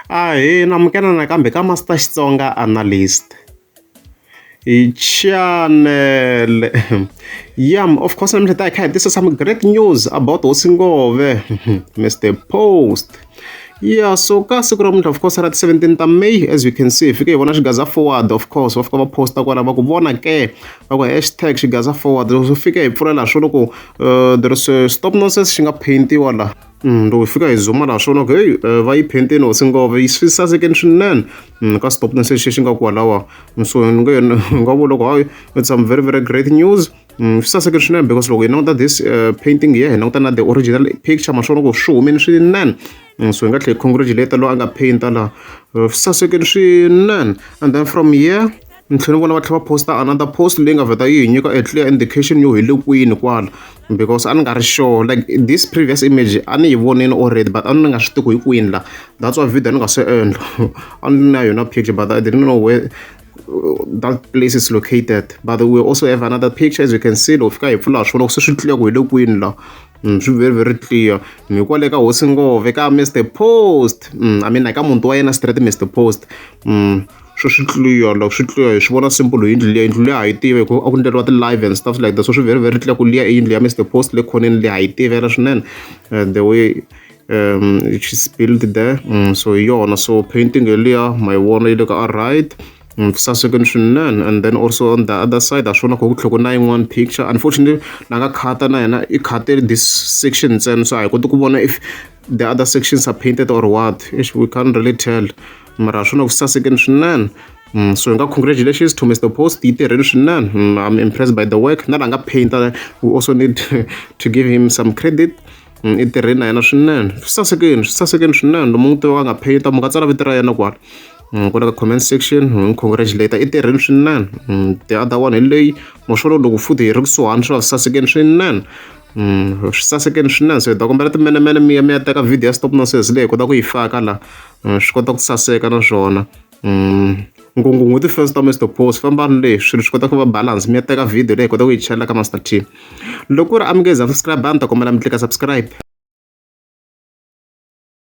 Ahee, na amukela nakambe ka Master Xitsonga Analyst. Hi channel ya of course namuntlha ta hi kha hi tisa some great news about hosi ngove Mr Post ya so ka siku ra muntlha of course ra ti 17 ta may as you can see hi fike hi vona xigaza forward of course va fika va posta kwala va ku vona ke va ku hashtag xigaza forward swi fike hi pfulela swo loko uh, there is a stop nonsense xi nga paintiwa laha Mm, loko hi fika hi zuma laha swona ku heyi eh, va yi phenteni hosi ngova yi swi sasekeni swinene mm, ka stopton se xi xi nga kwalawa mm, so ni nge ni nga vula ku hayi it's some very very great news Mm, swi sasekile swinene because loko hi languta this eh, painting hi ya hi languta na the original picture ma swona ku swi humeni swinene Mm, so hi nga tlhela hi congratulate loyi a nga painta laha Eh, swi sasekile swinene and then from here Ni tlhela ni vona va tlhela va post-a another post leyi nga vheta yi hi nyika a clear indication yo hi le kwini kwala because a ni nga ri sure like this previous image a ni yi vonile already but a ni nga swi tivi ku hi kwini la that's why video ni nga se endla a ni na yona picture but I didn't know where that place is located but we also have another picture as you can see loko fika hi pfula swona ku se swi clear ku hi le kwini la Mm, swi very very clear mi kwale ka hosi ngove ka mr post mm, i mean ka muti wa yena straight mr post mm. swi swi tluriwa loko swi tluriwa hi swi vona simple hi yindlu liya yindlu liya ha yi tivi hikuva a ku endleriwa ti-live and stuff like that so swi very very clear ku liya i yindlu ya Mister Post le khoneni liya ha yi tivela swinene the way she's built there so hi yona so painting yeliya ma yi vona yi le ka a right sasekeni swinene and then also on the other side ha swona kho ku tlhoko na yin'wani picture unfortunately na nga khata na yena i khate this section ntsena so a hi koti ku vona if the other sections are painted or what we can't really tell. mara swi na ku sasekeni swinene Mm, so hi nga congratulations to mr post yi tirheni swinene mm, i'm impressed by the work na la nga painter we also need to give him some credit mm, i tirheni na yena swinene swi sasekeni swi sasekeni swinene lomu n'wi tiva a nga painter mu nga tsala vito ra yena kwala Mm, kwala ka comment section hi n'wi congratulate i tirheni swinene Mm, the other one hi leyi moxolo loko futhi hi ri kusuhani swi va swi sasekeni swinene Mm, swi sasekeni swinene so hi ta kombela timenemene mi ya mi ya teka video ya stop nonsense leyi hi kota ku yi faka la swi kota ku saseka naswona ngungungu ti-fans ta Mister Boss fambani le swilo swi kota ku va balance mi ya teka video leyi hi kota ku yi chela ka Master T loko ku ri a mi nge za subscribe a ni ta kombela mi tlika subscribe